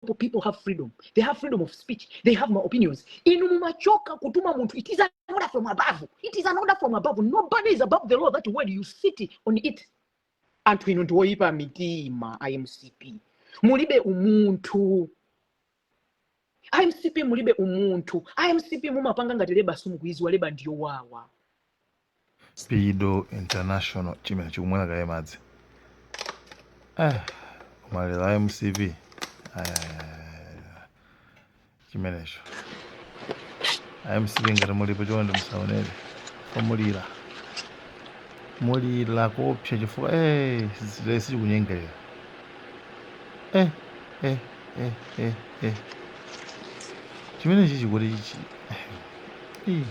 people, people have freedom. They have freedom of speech. They have my opinions. Inu mumachoka kutuma munthu. It is an order from above. It is an order from above. Nobody is above the law. That word you sit on it. Anthu inu ndiwoyipa mitima a MCP. Mulibe umunthu. A MCP mulibe umunthu. A MCP mumapanga ngati leba simukuidziwa leba ndiyo wawa. Spido International chimene chikumwera kaye madzi eh, mulira a mcp chimenecho a mcp ngati mulipo chonde musaonere mulira mulira kopsa chifukwa eh, zilesi sichikunyengerera eh, eh, eh, eh, eh. chimenechi chikuti chichi eh,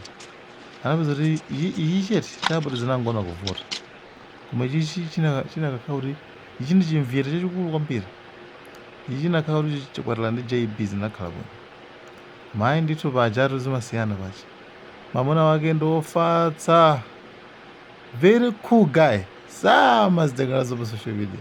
anapeza kuti ichi ichi chete chabwera zinangoona kuvuta koma ichi chi- china- chinakakhala kuti ichi ndi chimviyete chachikulu kwambiri ichi chinakhala kuti chi- chikwatirana ndi jb zinakakhala bwino mayi ndithu pajatu zimasiyana paja mamuna wake ndi ofatsa very cool guy samazitengera za pa social media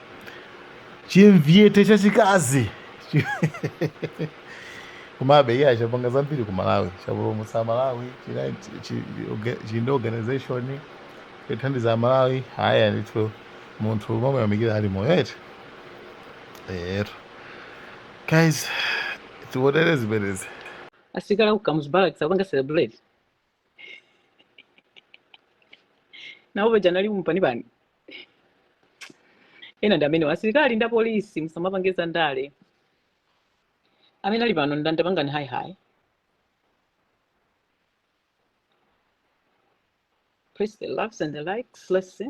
chimviyete chachikazi Chi- komabe iya chapanga zambiri ku malawi chapulumutsa amalawi china- chi- chi- orga- chili ndi organization yothandiza amalawi ayi ndithu munthu umamuyamikira ali moyo eti ero guys tiwonere zimenezi asilikali ku kamuzu barracks akupanga celebrate nawo paja anali mumpanipani ena ndi amenewo asilikali ndi apolisi musamapange za ndale amene ali pano ndani tapangani hayi hayi press the loves and the likes let's see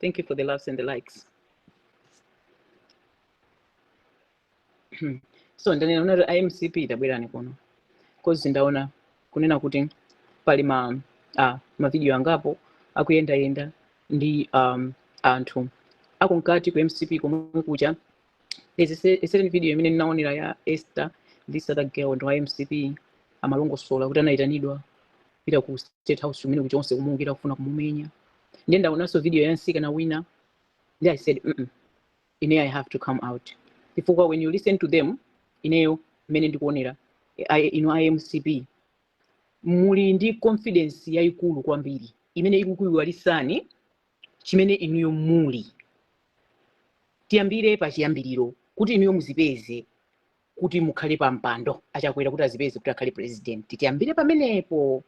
Thank you for the loves and the likes. so ndanena unati a mcp tabwerani kuno cause ndaona kunena kuti pali ma ah, mavidiyo angapo akuyendayenda ndi um, anthu akunkati ku mcp komwe kucha There's a certain video imene ndinaonera ya Esther this other girl ndi wa MCP amalongosola kuti anayitanidwa pita ku state house kumene kuchonse kumuukira kufuna kumumenya ndiye ndaonanso video ya mtsikana wina ndiye i said mm -mm, ine i have to come out chifukwa when you listen to them ineyo mmene ndikuonera I- inu a mcp muli ndi confidence yayikulu kwambiri imene ikukuyiwalisani chimene inuyo muli. Tiyambire pachiyambiriro kuti inuyo muzipeze kuti mukhale pa mpando a Chakwera kuti azipeze kuti akhale president. Tiyambire pamenepo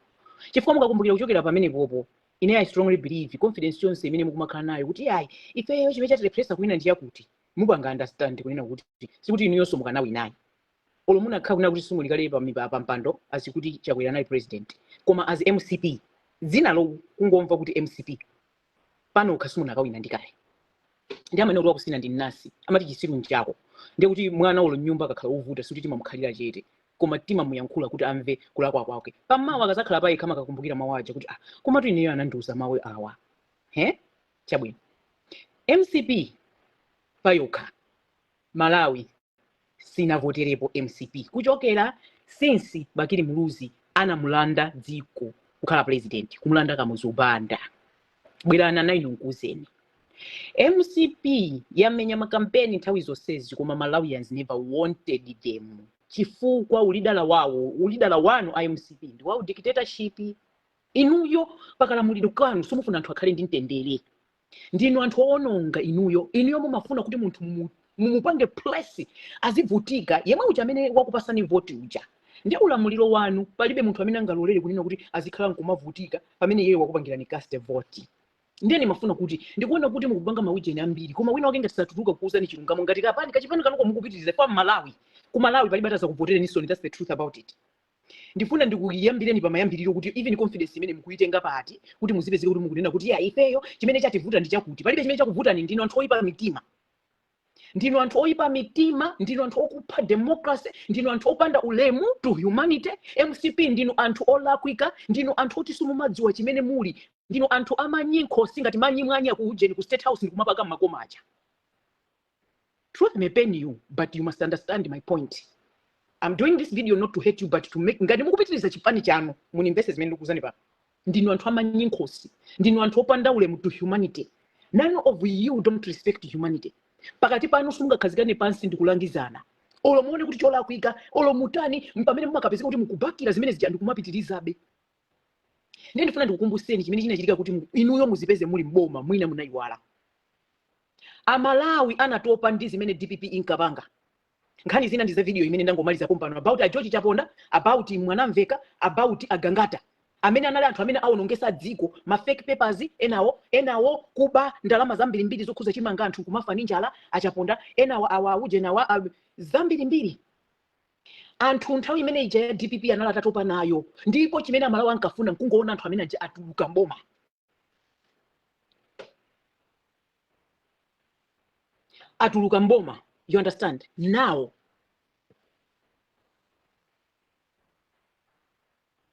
chifukwa mukakumbukira kuchokera pamenepopo ineyo I strongly believe confidence yonse imene mukumakhala nayo kuti ayi ifeyo chimene chatilepheresa kuwina ndi chakuti mupanga understand kunena kuti sikuti inuyonso mukanawinayi olo munakhala kunena kuti simunali kale pa, mipa- pa mpando as kuti chakwera anali president koma as mcp dzina lo kungomva kuti mcp payokha simunakawina ndi kale ndi amene kuti wakusina ndi nnasi amati chisiru nchako ndiye kuti mwana olo mnyumba akakhala ovuta sikuti timamukhalira chete koma timamuyankhula kuti amve kulakwa kwake pamawa akazakhala payekha amakakumbukira mawu aja kuti ah komatu ineyo anandiuza mawu awa he chabwino mcp payokha Malawi sinavoterepo mcp kuchokera since Bakili Muluzi anamulanda dziko kukhala president kumulanda Kamuzu Banda. Bwerani ana inu nkuuzeni. Mcp yamenya makampeni nthawi zonsezi koma Malawians never wanted them chifukwa ulidala wawo ulidala wanu a mcp ndi wa dictatorship. Inuyo pakalamulire kanu simufuna anthu akhale ndi mtendere. ndinu anthu owononga inuyo inuyo mumafuna kuti munthu mumu- mumupange press azivutika yemwe uja amene wakupasani voti uja ndi ulamuliro wanu palibe munthu amene angalolere kunena kuti azikhala nkumavutika pamene iyeyo wakupangirani cast voti ndiye ndimafuna kuti ndikuona kuti mukupanga maujeni ambiri koma wina wake ngati satuluka kukuuzani chilungamo ngati kapani kachipani kanuko mukupitiriza kwa malawi ku malawi palibe atazakuvotereninso that's the truth about it Ndifuna ndikuyambireni pamayambiriro kuti even confidence imene mukuitenga pati kuti muzipezeke kuti mukunena kuti ya ifeyo chimene chativuta ndi chakuti. Palibe chimene chakuvutani ndinu anthu oyipa mitima. Ndinu anthu oyipa mitima, ndinu anthu okupha democracy, ndinu anthu opanda ulemu to humanity. MCP ndinu anthu olakwika, ndinu anthu oti simumadziwa chimene muli. Ndinu anthu amanyi nkhosi ngati manyi mwanya ku ujeni ku state house ndikumapaka mmakoma aja. truth may pain you but you must understand my point i'm doing this video not to hate you but to make ngati mukupitiriza chipani chanu munimvese zimene ndikuuzani pano ndinu anthu amanyi nkhosi ndinu anthu opanda ulemu to humanity none of you don't respect humanity pakati panu simungakhazikane pansi ndikulangizana olo muone kuti cholakwika olo mutani mpamene mumakapezeka kuti mukubakira zimene zija ndikumapitirizabe ndiye ndifuna ndikukumbuseni chimene chinachitika kuti mu- inuyo muzipeze muli mboma mwina munayiwala amalawi anatopa ndi zimene dpp inkapanga nkhani zina ndi za video imene ndangomaliza pompano about a George Chaponda about Mwanamvekha about a Gangata amene anali anthu amene awonongesa dziko ma fake papers enawo enawo kuba ndalama zambirimbiri zokhuza chimanga anthu kumafa ndi njala a Chaponda enawo awa auje nawa awa- zambirimbiri Anthu nthawi imene ija ya dpp anali atatopa nayo, ndipo chimene amalawi ankafuna nkungoona anthu amene aja atuluka mboma. Atuluka mboma. You understand? Now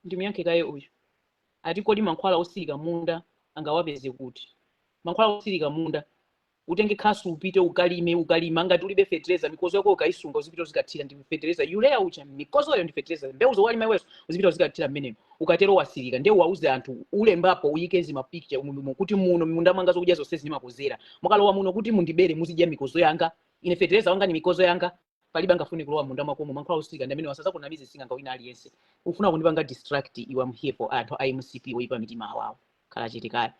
ndimuyankheko kaye uyu ati kodi mankhwala osirika munda angawapeze kuti? Mankhwala osirika munda utenge khasu upite ukalime ukalima ngati ulibe fetereza mikozo yako ukaisunga uzipita uzikathira ndi fetereza urea uja mikozoyo ndi fetereza mbewu zowalima iweso uzipita uzikathira mmenemo ukatero wasirika ndiye uwauze anthu ulembapo uyike zimapicture umudumo kuti muno munda mwanga zokudya zonse zimakozera mwakalowa muno kuti mundibere muzidya mikozo yanga ine fetereza wanga ni mikozo yanga palibe angafune kulowa mmunda mwakomo mankhwala osirika ndi amenewa asazakunamize sing'anga wina aliyense ufuna kundipanga distract iwe am here for anthu a mcp oyipa mitima awawo khala chete kaya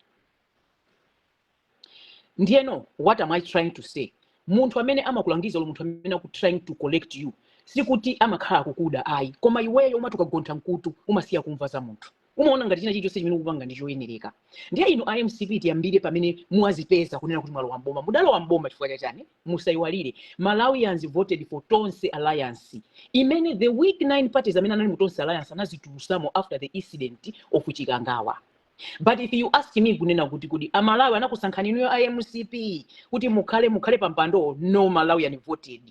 ndiyeno what am i trying to say munthu amene amakulangiza olo munthu amene aku trying to correct you sikuti amakhala akukuda ayi koma iweyo umati ukagontha mkutu umasiya kumva za munthu umaona ngati china chilichonse chimene ukupanga ndi choyenereka ndiye inu a mcp tiyambire pamene mwazipeza kunena kuti mwalowa mboma mudalowa mboma chifukwa cha chani musayiwaliretu malawians voted for tonse alliance imene the weak nine parties amene anali mu tonse alliance anazitulusamo after the incident of chikangawa but if you ask me kunena kuti kodi amalawi anakusankhani inuyo a mcp kuti mukhale mukhale pa mpandowo no malawian voted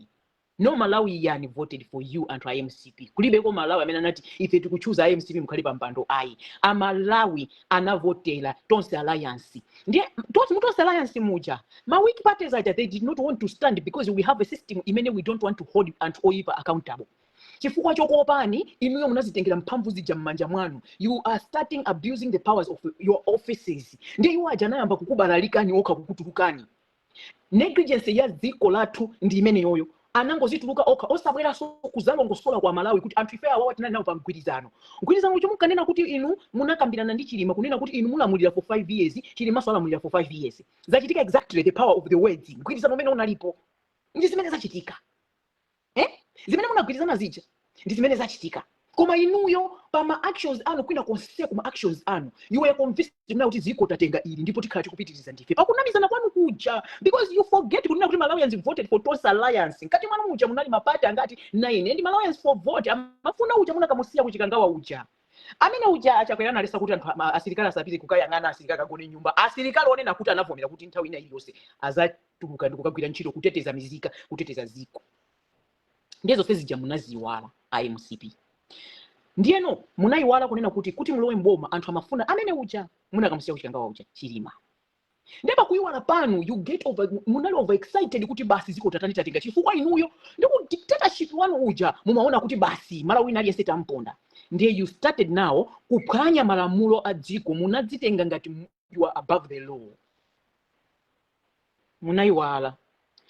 No Malawian voted for you anthu a mcp. Kulibeko Mmalawi amene anati ife tikuchuza a mcp mukhale pa mpando ayi. A Malawi anavotera Tonse Alliance. Ndiye mu Tonse Alliance muja ma weak parties aja they did not want to stand because we have a system imene we don't want to hold anthu oyipa accountable. Chifukwa chokuopani inuyo munazitengera mphamvu zija m'manja mwanu. You are starting abusing the powers of your offices. Ndiye iwo aja anayamba kukubalalikani okha kukutulukani. Negligence ya dziko lathu ndi imeneyoyo. Anangozituluka okha osabweranso kuzalongosola kwa aMalawi kuti anthu ife awawa tinali nawo pa mgwirizano. Mgwirizano uja munkanena kuti inu munakambirana ndi Chilima kunena kuti inu mulamulira for 5 years, Chilimanso alamulira for 5 years. Zachitika exactly the power of the words. Mgwirizano umene unalipo ndi zimene zachitika. eh? zimene munagwirizana zija ndi zimene zachitika koma inuyo pa ma actions anu kwina konse kuma actions anu you were convinced kunena kuti dziko tatenga ili ndipo tikhala tikupitiriza ndife pakunamizana kwanu kuja because you forget kunena kuti malawians voted for tonse alliance mkati mwanu muja munali mapati angati 9 ndiye malawians for vote amafuna uja munakamusiya kuchikangawa uja Amene uja a Chakwera analesa kuti anthu asilikali asapite kukayang'ana asilikali akagone mnyumba. Asilikali onena kuti anavomera kuti nthawi ina iliyonse azatuluka ndi kukagwira ntchito kuteteza mizika, kuteteza dziko. Ndiye zonse zija munaziiwala a mcp. Ndiyeno munayiwala kunena kuti kuti mulowe mboma anthu amafuna amene uja munakamusiya kuchikangawa uja Chilima. ndiye pakuyiwala pano you get over munali over excited kuti basi ziko tatani tatenga chifukwa inuyo ndi ku dictatorship wanu uja mumaona kuti basi mmalawi wina aliyense tamponda ndiye you started now kuphwanya malamulo a dziko munadzitenga ngati mu- you are above the law munayiwala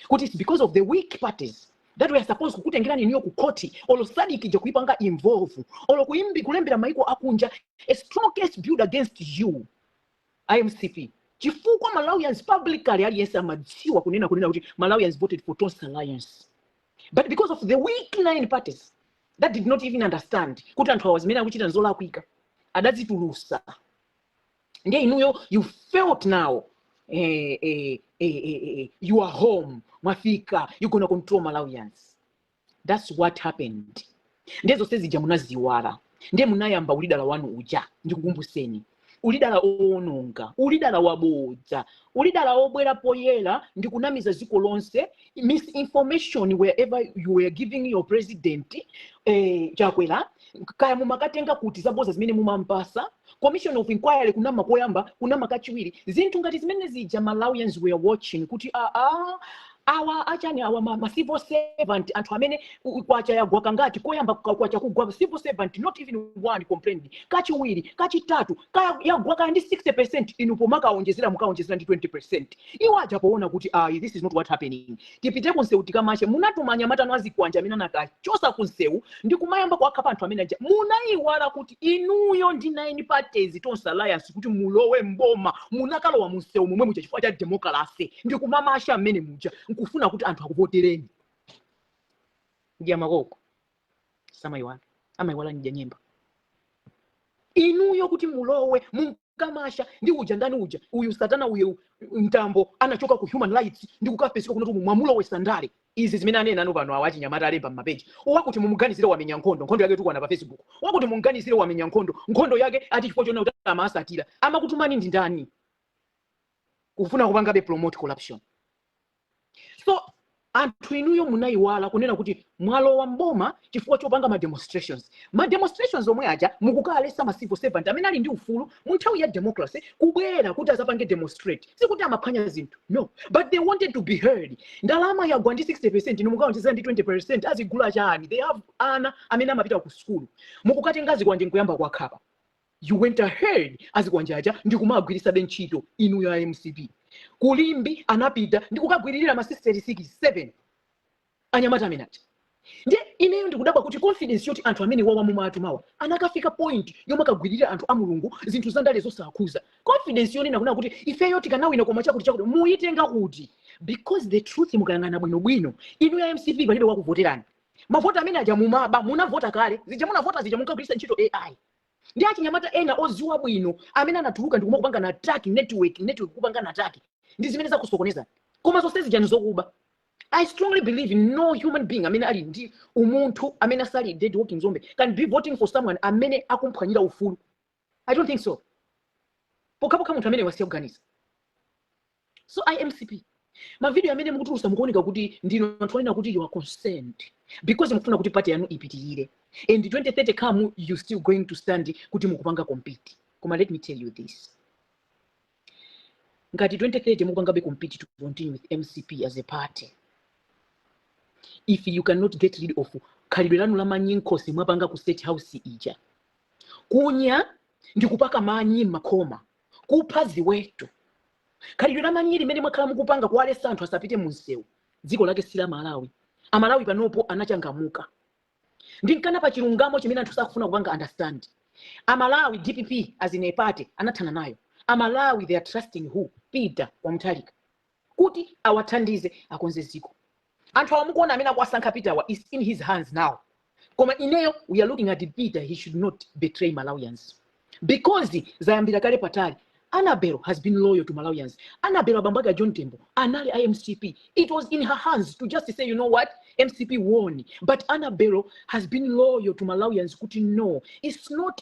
kuti it's because of the weak parties that we are supposed kukutengerani inuyo ku court olo sadc ija kuipanga involve olo kuimbi kulembera maiko akunja a strong case built against you a mcp chifukwa malawians publicly aliyense amadziwa kunena kunena kuti malawians voted for tonse alliance but because of the weak nine parties that did not even understand kuti anthu awa zimene akuchita nzolakwika adazitulusa ndiye inuyo you felt now eh, eh, eh, eh, eh, you are home mwafika you gonna control malawians thats what happened ndiye zonse zija munaziyiwala ndiye munayamba ulidala wanu uja ndikukumbuseni ulidala owononga ulidala wabodza ulidala obwera poyera ndikunamiza ziko lonse misinformation wherever you were giving your president eh, chakwera kaya mumakatenga kuti zabodza zimene mumampasa commission of inquiry kunama koyamba kunama kachiwiri zinthu ngati zimene zija malawians were watching kuti aa awa achani awa ma, ma civil servant anthu amene u- u- kwacha yagwa kangati koyamba kwa- kwacha kugwa civil servant not even one complained kachiwiri kachitatu kaya yagwa kaya ndi 60 percent inu pomakaonjezera mukaonjezera ndi 20 percent iwo aja poona kuti ayi this is not what happening tipite kunsewu tikamashe munatuma anyamata anu azikwanje amene anakawachosa kunsewu ndi kumayamba kuwakhapa anthu amene aja munayiwala kuti inuyo ndi nine parties tonse alliance kuti mulowe mboma munakalowa munsewu momwe muja chifukwa cha democracy ndi kumamasha mmene muja nkufuna kuti anthu akuvotereni mdya makoko samayiwala amayiwala mdya nyemba inuyo kuti mulowe munkamasha ndi uja ndani uja uyu satana uyu mtambo anachoka ku human rights ndi kukapeseka kunotu mwamulowe sandale izi zimene anena anu pano awa achinyamata alemba m'mapeji wakuti mumuganizire wamenya nkhondo nkhondo yake tukwana pa facebook wakuti mumuganizire wamenya nkhondo nkhondo yake ati chifukwa choona kuti amasatira amakutumani ndi ndani kufuna kupangabe promote corruption so anthu inuyo munayiwala kunena kuti mwalowa mboma chifukwa chopanga ma demonstrations ma demonstrations omwe aja mukukawalesa ma civil servant amene ali ndi ufulu mu nthawi ya democracy kubwera kuti azapange demonstrate sikuti amaphwanya zinthu no but they wanted to be heard ndalama yagwa ndi 60 percent inu mukaonjezera ndi 20 percent azigula chani they have ana amene amapita ku sukulu mukukatenga zikwanje nkuyamba kuwakhapa you went ahead azikwanja aja ndikumagwirisabe ntchito inuyo a mcp kulimbi anapita ndikukagwiririra masisteri 7 anyamata amene aja ndiye ineyo ndikudabwa kuti confidence yoti anthu amene wawa mumawatumawa anakafika point yomakagwiririra anthu a mulungu zinthu zandale zosakhuza confidence yonena kunena kuti ifeyo tikanawina koma chakuti chakuti muyitenga kuti because the truth mukayang'ana bwinobwino inu ya mcp palibe wakuvoterani mavoti amene aja mumaba munavota kale zija munavota zija munkagwiritsa ntchito ai ndi achinyamata ena oziwa bwino amene anatuluka ndi kumakupanga na attack network network kupanga na attack ndi zimene zakusokoneza koma zonse zija ndizokuba I strongly believe in no human being amene ali ndi umunthu amene asali dead walking zombie can be voting for someone amene akumphwanyira ufulu I don't think so pokhapokha munthu amene wasiya kuganiza so a mcp mavidiyo amene mukutulusa mukuoneka kuti ndinu anthu onena kuti you are concerned because mukufuna kuti pati yanu ipitirire and 2030 come you still going to stand kuti mukupanga compete koma let me tell you this ngati 2030 mukupangabe compete to continue with mcp as a party if you cannot get rid of khalidwe lanu la manyi nkhosi mwapanga ku state house ija kunya ndi kupaka manyi m'makhoma kupha ziweto khalidwe la manyi limene mwakhala mukupanga kuwalesa anthu asapite mu msewu dziko lake si la malawi amalawi panopo anachangamuka ndiye nkhani pa chilungamo chimene anthu sakufuna kupanga understand amalawi dpp as in a party anathana nayo amalawi they are trusting who peter wa mutharika kuti awathandize akonze ziko anthu awa mukuona amene akuwasankha peter awa is in his hands now koma ineyo we are looking at peter he should not betray malawians because zayambira kale patali annabel has been loyal to malawians annabel abambo ake a john tembo anali a mcp it was in her hands to just say you know what mcp won but annabel has been loyal to malawians kuti no it's not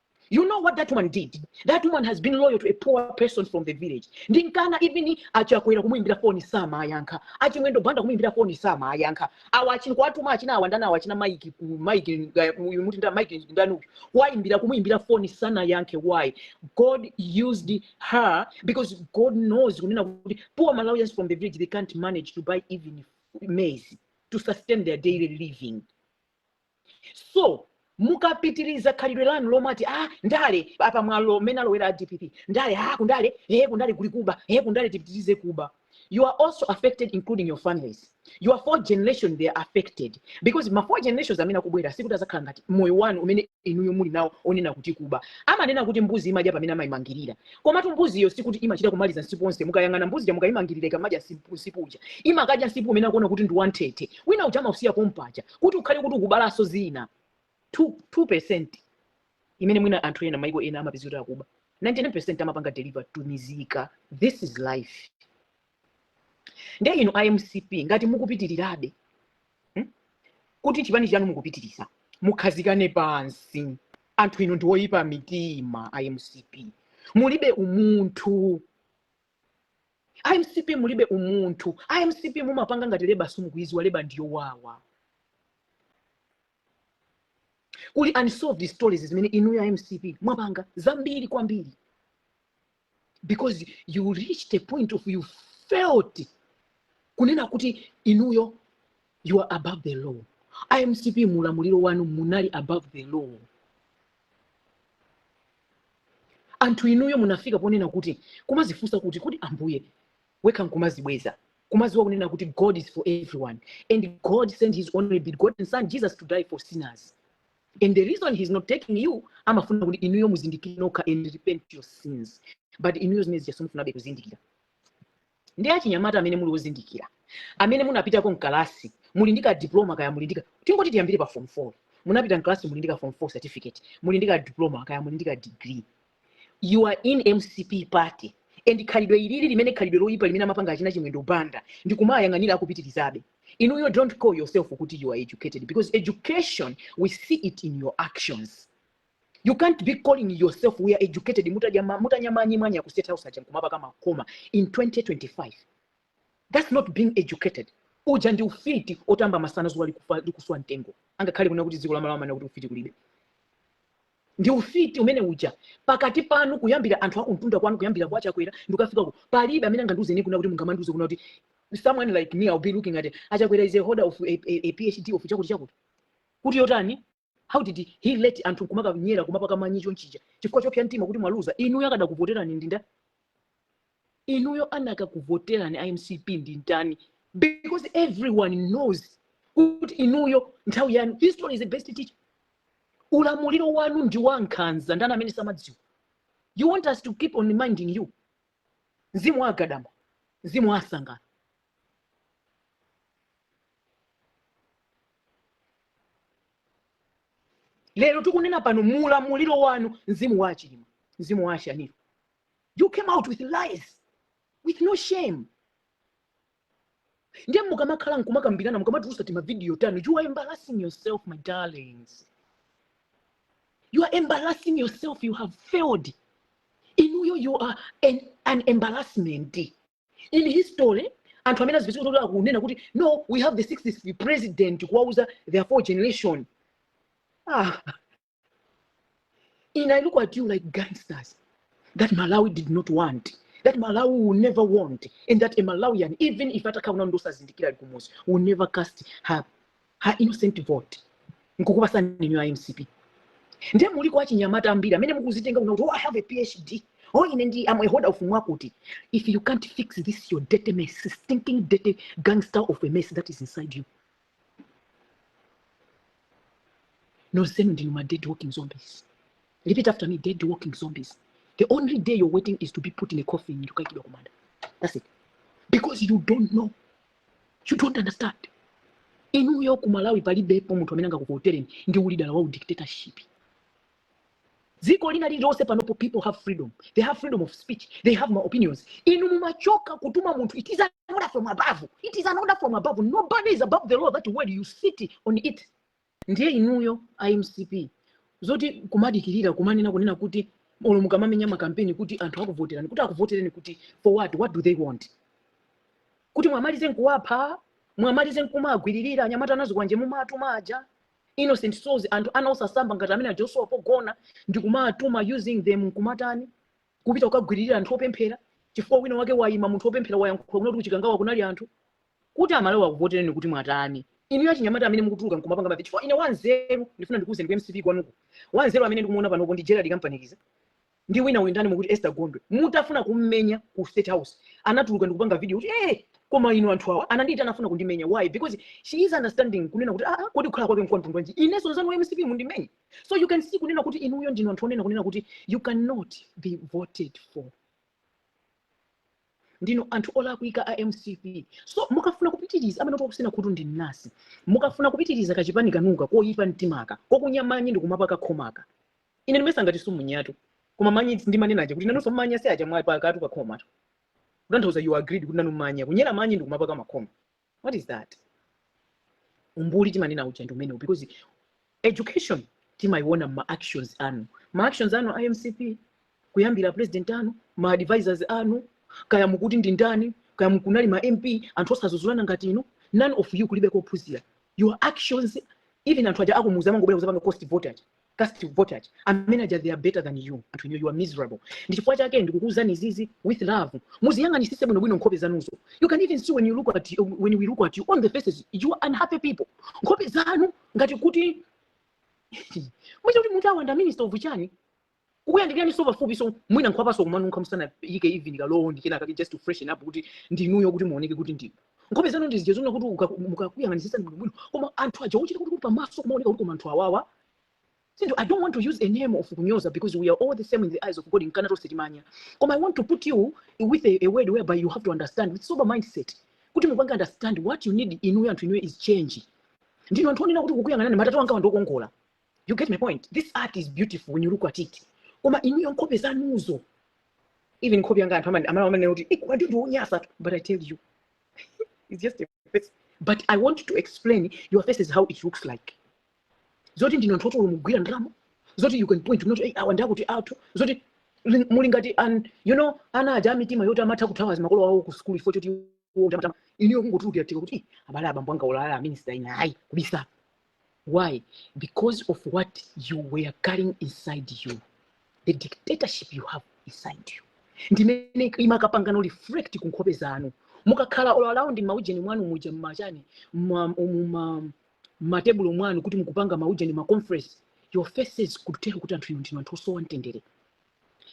You know what that woman did? That woman has been loyal to a poor person from the village. Ndinkana even achakwera kumuimbira foni sama ayankha. Achimwendo banda kumuimbira foni sama ayankha. Awa achini kwatuma achina awandana awa achina Mike ku- Mike eh, uyu muti nda Mike ndani uyu. Waimbira kumuimbira foni sana yankhe why? God used her because God knows kunena kuti poor Malawians from the village they can't manage to buy even maize to sustain their daily living. so mukapitiriza khalidwe lanu lomati a ah, ndale apa mwalowa mmene alowera a dpp ndale a ah, kundale ee eh, kundale kuli kuba ee eh, kundale tipitirize kuba you are also affected including your families your four generation they are affected because ma four generations amene akubwera sikuti azakhala ngati moyo wanu umene inuyo muli nawo onena kuti kuba amanena kuti mbuzi imadya pamene amayimangirira komatu mbuziyo sikuti imachita kumaliza nsipu onse mukayang'ana mbuzi ja mukayimangirira ikamadya nsipu uja imakadya nsipu umene akuona kuti ndi wantete wina uja amausiya pompaja kuti ukhale kuti ukubalanso zina 2% imene mwina anthu ena maiko ena amapezeka akuba 99% amapanga deliver to mizika this is life nde inu a mcp ngati mukupitirirabe kuti chipani chanu mukupitiriza mukhazikane pansi anthu inu ndi oyipa mitima a mcp mulibe umunthu a mcp mulibe umunthu a mcp mumapanga ngati leba simukuiziwa leba ndiyowawa kuli unsolved stories zimene inuyo a mcp mwapanga zambiri kwambiri because you reached a point of you felt kunena kuti inuyo you are above the law a mcp mulamuliro wanu munali above the law anthu inuyo munafika ponena kuti kumazifunsa kuti kodi ambuye wekha nkumazibweza kumaziwa kunena kuti god is for everyone and god sent his only begotten son jesus to die for sinners and the reason he's not taking you amafuna kuti inuyo muzindikire nokha and repent your sins but inuyo zimene zija simufunabe kuzindikira ndi achinyamata amene muli ozindikira amene munapitako mkalasi muli ndi ka diploma kaya muli ndi ka- tingoti tiyambire pa form 4 munapita mkalasi muli ndi ka form 4 certificate muli ndi ka diploma kaya muli ndi ka degree you are in mcp party and khalidwe ilili limene khalidwe loyipa limene amapanga achina chimwendo banda ndi kumayang'anira akupitirizabe inuyo don't call yourself kuti you are educated because education we see it in your actions You can't be calling yourself we are educated mutanya manyi mwanya ku state house aja nkumapaka makoma in 2025. That's not being educated. Uja ndi ufiti otamba masana zuwa likuswa mtengo. Angakhale kuna kuti dziko la Malawi amana kuti ufiti kulibe. ndi ufiti umene uja pakati panu kuyambira anthu akuntunda kwanu kuyambira kwa chakwera ndikafika ku palibe amene angandiuze ine kuna kuti mungamandiuze kuna kuti someone like me I'll be looking at achakwera is a holder of a phd of chakuti chakuti kuti yotani how did he let anthu nkumakanyera kumapaka manyi chonchija chifukwa chopsa mtima kuti mwaluza inuyo akadakuvoterani ndi ndani inuyo anakakuvoterani a mcp ndi ndani because everyone knows kuti inuyo nthawi yanu history is the best teacher ulamuliro wanu ndi wa nkhanza ndani amene samadziwa you want us to keep on reminding you mzimu wa agadama mzimu wa asangana lero tikunena pano muulamuliro wanu mzimu wa achilima mzimu wa ashanil you came out with lies with no shame ndiye mukamakhala nkumakambirana mukamatulusa timavidiyo tanu you are embarrassing yourself my darlings you are embarrassing yourself you have failed inuyo you are an embarrassment in history anthu amene azipitako kunena kuti no we have the sixth president kuwauza their four generation and i look at you like gangsters that malawi did not want that malawi will never want and that a malawian even if atakhala wina osazindikira ali kumuzi will never cast her a innocent vote nkukupasani inu a mcp ndiye muliko achinyamata ambiri amene mukuzitenga kuno kuti oh, i have a phd oh ine ndi am a holder of mwakuti if you can't fix this your dirty mess stinking dirty gangster of a mess that is inside you nonsenu ndinu ma dead walking zombies repeat after me dead walking zombies the only day you're waiting is to be put in a coffin ndikaikidwa kumanda that's it because you don't know you don't understand inuyo ku malawi palibepo munthu amene angakuvotereni ndi ulida wa udictatorship dziko lina lililonse panopo people have freedom they have freedom of speech they have ma opinions inu mumachoka kutuma munthu it is an order from above it is an order from above nobody is above the law that word you sit on it Ndiye inuyo a mcp zoti kumadikilira kumanena kunena kuti olo mukamamenya makampeni kuti anthu akuvoterani kuti akuvotereni kuti for what what do they want kuti mwamalize nkuwapha mwamalize nkumagwiririra anyamata anazikwanje mumatuma aja innocent souls anthu ana osasamba ngati amene ajawo osowa pogona ndikumawatuma using them nkumatani kupita kukagwiririra anthu opemphera chifukwa wina wake wayima munthu opemphera wayankhula kunena kuti kuchikangawa kunali anthu kuti amalawi akuvotereni kuti mwatani inuyo achinyamata amene mukutuluka nkumapanga mavidiyo chifukwa ine wanzeru ndifuna ndikuwuzeni ku mcp kwanuko wanzeru amene ndikumuona panopo ndi gerald kampanikiza ndi wina uyu ndani mukuti esther gondwe mutafuna kummenya ku state house anatuluka ndikupanga video kuti eh koma inu anthu awa anandiyitana anafuna kundimenya why because she is understanding kunena kuti ah ah, kodi kukhala kwake mkwamtundu wanji inenso nzanu wa mcp mundimenye so you can see kunena kuti inuyo ndinu anthu onena kunena kuti you cannot be voted for ndinu anthu olakwika a mcp so mukafuna kupitiriza amene takutsina khutu ndi mnasi mukafuna kupitiriza kachipani kanuka koyipa mtimaka kokunya manyi ndikumapaka khomaka ine ndimayesa ngati sumunyatu koma manyi si ndimanena aja kuti nanunso mmanya si aja mwapakatu pakhomatu kutanthauza you agreed kuti nanu manya kunyera manyi ndikumapaka makhoma what is that umbuli timanena uja ndi umenewu because education timayiona mma actions anu ma actions anu a mcp kuyambira president anu ma advisors anu kaya mukuti ndi ndani kaya mukunena ma mp anthu osazuzulana ngati inu none of you kulibe kophunzira your actions even anthu aja akumuuza amangobwera kuzapanga cast vote aja cast vote aja amene aja they are better than you anthu inu you are miserable ndi chifukwa chake ndikukuuzani izizi with love muziyang'anisise bwinobwino nkhope zanuzo you can even see when we look at you on the faces you are unhappy people nkhope zanu ngati kuti muchita kuti munthu awanda minister of chani kukuyandikirani so pafupi so mwina nkhwapaso kumanunkha musanayike even kacologne kenaka just to freshen up kuti ndinuyo kuti muoneke kuti ndi nkhope zanu ndi zija zonena kuti uka- mukakuyang'anitsitsani bwinobwino koma anthu aja ochita kuti kuti pamaso kumaoneka kuti koma anthu awawa sindio i don't want to use a name of kunyoza because we are all the same in the eyes of god nkana tonse timanya koma i want to put you with a, a word whereby you have to understand with sober mindset kuti mupange understand what you need inuyo anthu inuyo is change ndinu anthu onena kuti kukuyang'anani atate anga ndi wokongola you get my point this art is beautiful when you look at it koma inuyo nkhope zanuzo even nkhope yanga anthu amane- amene amanena kuti inu ndiwonyasa tu tu but i tell you it's just a face but i want to explain your face is how it looks like zoti ndinu anthu oti mumagwira ndalama zoti you can point out kuti hey, awa ndi akuti athu zoti li- muli ngati an you know ana aja amitima yoti amatha kuthawa azimakolo awo ku sukulu ifo choti iwo kuti amatama iniyo kungotulukira tika kuti "Eh, abale abambo anga ulala aminisita ina ayi kubisa Why? Because of what you were carrying inside you, the dictatorship you have inside you. ndimene imakapangano reflect ku nkhope zanu mukakhala all around maujeni mwanu muja mmachani mma- mma- mmatebulo mwanu kuti mukupanga maujeni maconference your faces could tell kuti anthu inu ndinu anthu osowa mtendere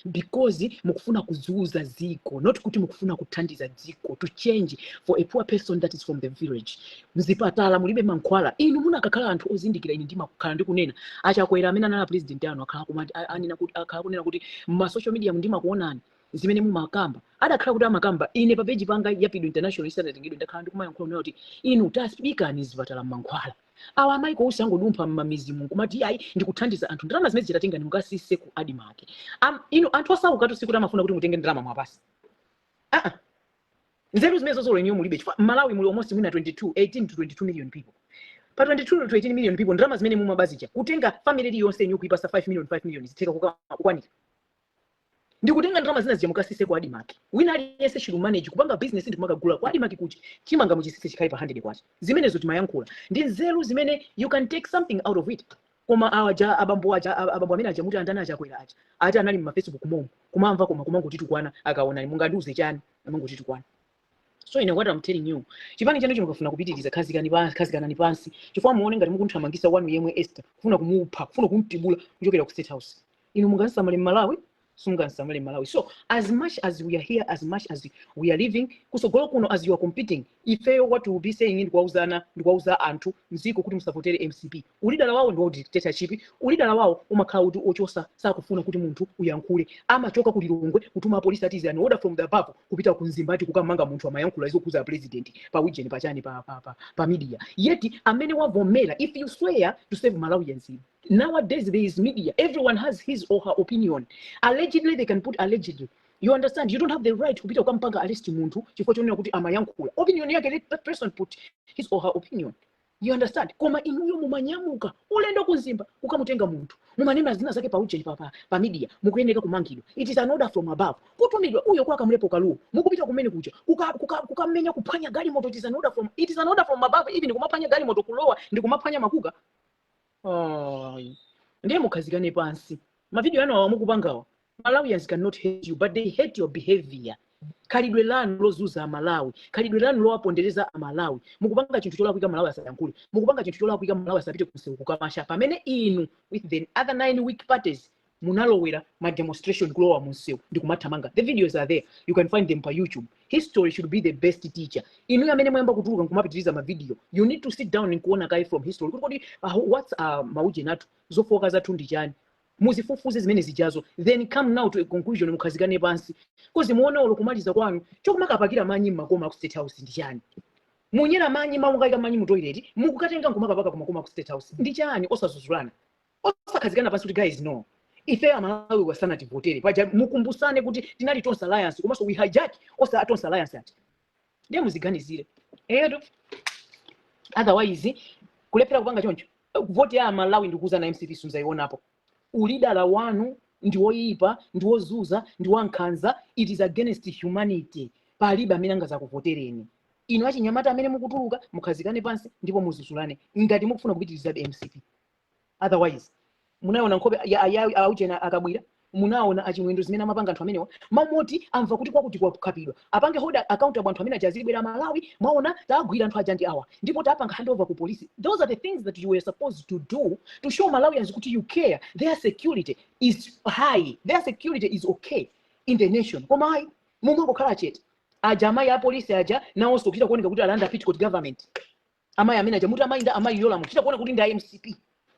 because mukufuna kuzuza dziko not kuti mukufuna kuthandiza dziko to change for a poor person that is from the village mzipatala mulibe mankhwala inu munakakhala anthu ozindikira ine ndimakhala ndikunena achakwera amene anali president anu akhala kumati a- anena kuti akhala kunena kuti m'ma social media ndimakuonani zimene mumakamba atakhala kuti amakamba ine pa page panga ya pido international isanatengedwe ndakhala ndikumayankhula kuti inu tasiyani mzipatala mankhwala awa amaiko onse akangodumpha m'mamizimu nkumati ayi ndikuthandiza anthu ndalama zimenezo tatengani mukasise ku admarc Am- inu anthu osaukatu sikuti amafuna kuti mutenge ndalama muwapase aa nzeru zimenezozo inuyo mulibe chifukwa m'Malawi muli almost mwina 22 18 to 22 million people pa 22 to 18 million people ndalama zimene mumabazija kutenga family iliyonse inu kuipasa 5 million 5 million zitheka kuka- kukwanira ndikutenga ndalama zina zija mukasise ku admarc wina aliyense should manage kupanga business ndi kumakagula ku admarc kuti chimanga muchisise chikhale pa 100 kwacha zimenezo timayankhula ndi nzeru zimene you can take something out of it koma aja abambo aja ab- abambo amene aja muti andani aja achakwera aja ati anali mu facebook momo kumamva koma kumangotitukwana akaona mungandiuze chani kumangotitukwana so ine what I'm telling you chipani chanu chino mukafuna kupitiriza khazikani pansi khazikanani pansi chifukwa muone ngati mukumthamangisa wanu yemwe Esther kufuna kumupha kufuna kumtibula kuchokera ku state house inu mungamsamale m'malawi simungamsamale m'malawi so as much as we are here as much as we are living kusogolo kuno as you are competing ifeyo what we will be saying ndikuwauzana ndikuwauza anthu mziko kuti musavotere mcp Ulida wawo ndiwaudictatorship, ulida wawo umakhala woti ochosa sakufuna kuti munthu uyankhule, amachoka ku Lilongwe kutuma apolisi ati is an order from the above kupita ku Mzimba ati kukammanga munthu amayankhula zokhuza apresident pa ujeni pa chani pa, pa, pa, pa media yet amene wavomera if you swear to serve Malawians nowadays there is media everyone has his or her opinion allegedly they can put allegedly you understand you don't have the right kupita kukampanga arrest munthu chifukwa chonena kuti amayankhula opinion yake let that person put his or her opinion you understand koma inuyo mumanyamuka ulendo ku Mzimba kukamutenga munthu mumanena zina zake pa ujeni pa, pa, pa media mukuyeneka kumangidwa it is an order from above kutumidwa uyo kwa Kamlepo Kalua mukupita kumene kuja kukamenya kuka, kuka kukamenya kuphwanya galimoto it is an order from it is an order from above even ndi kumaphwanya galimoto kulowa ndi kumaphwanya makuka Ayi. ndiye mukhazikane pansi mavidiyo anu awa mukupangawa malawians cannot hate you but they hate your behavior khalidwe lanu lozuza amalawi khalidwe lanu lowapondereza amalawi mukupanga chinthu cholakwika malawi asayankhule mukupanga chinthu cholakwika malawi asapite kunsewu kukamacha pamene inu with the other nine weak parties munalowera ma demonstration kulowa munsewu ndi kumathamanga the videos are there you can find them pa youtube history should be the best teacher inu amene mwayamba kutuluka nkumapitiriza ma video you need to sit down nkuona kaye from history kuti kodi what's maujeni athu zofooka zathu ndi chani muzifufuze zimene zijazo then come now to a conclusion mukhazikane pansi kozi muone olo kumaliza kwanu chokumakapakira manyi mmakoma ku state house ndi chani munyera manyi mamukaika manyi mu toilet mukukatenga nkumakapaka kumakoma ku state house ndi chani osazuzulana osakhazikana pansi kuti guys no ife amalawi asanativotere paja mukumbusane kuti tinali Tonse Alliance komanso we hijack Tonse Alliance ati ndiye muziganizire eyetu otherwise kulephera kupanga choncho vote ya amalawi ndikuuzani mcp simuzaionapo ulida wanu ndi woyipa ndi wozuza ndi wankhanza it is against humanity palibe amene angazakuvotereni inu achinyamata amene mukutuluka mukhazikane pansi ndipo muzuzulane ngati mukufuna kupitirizabe mcp otherwise munaona nkhope ya aujeni aKabwira munaona aChimwendo zimene amapanga anthu amenewa mmene amva kuti kwakuti kwakhapidwa apange hold accountable anthu amene aja aziwabweretsa amalawi mwaona tagwira anthu aja ndi awa ndipo tapanga handover ku polisi those are the things that you were supposed to do to show malawians kuti you care their security is high their security is okay in the nation koma ayi mumangokhala chete aja amayi apolisi aja nawonso kuchita kuoneka kuti alanda petticoat government Amayi amene aja muti amayi ndani amayi Yolamu kuchita kuoneka kuti ndi a mcp.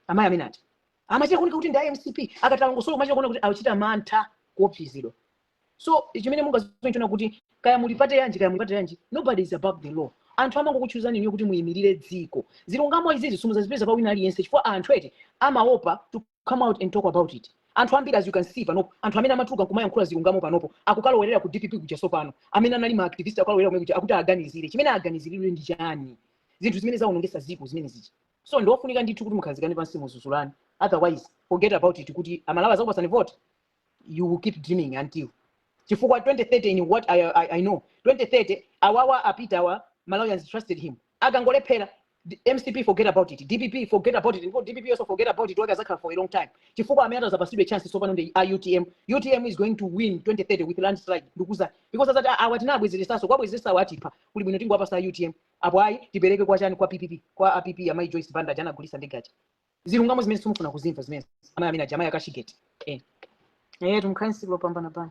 Amayi amene aja amachita kuoneka kuti ndi a mcp akamalongosola umachita kuona kuti achita mantha kuopsezedwa. So chimene mungaziwe nchonena kuti kaya muli pate yanji kaya muli pate yanji nobody is above the law. Anthu amangokuchuzani inuyo kuti muyimirire dziko. Zilungamo izizi simuzazipeza pa wina aliyense chifukwa anthu eti amaopa to come out and talk about it anthu ambiri as you can see panopo anthu amene amatuluka nkumayankhula zilungamo panopo akukalowerera ku dpp kujaso pano amene anali ma activist akukalowerera kumene kuja akuti aganizire chimene aganiziridwe ndi chani zinthu zimene zaonongesa ziko zimene zichi so ndiofunika ndithu kuti mukhazikane pansi muzuzulane otherwise forget about it kuti amalawi azakupasani vote you will keep dreaming until chifukwa 2030 in what I know 2030 awawa apita awa malawians trusted him akangolephera mcp forget about it dpp forget about it ndipo dpp also forget about it wake azakhala for a long time chifukwa amene atazapasidwe chance tsopano ndi a utm utm is going to win 2030 with landslide ndikuuzani because azati "Ah, awa tinabwezeresaso kwabwezeresawo atipha kuli bwino tingowapasa a utm apo ayi tipereke kwa chani kwa pp kwa a pp amayi joyce banda aja anagulisa ndege aja zilungamo zimene simukufuna kuzimva zimene amayi amene aja amayi a cashgate eh eh tumkhani siku lopambana bana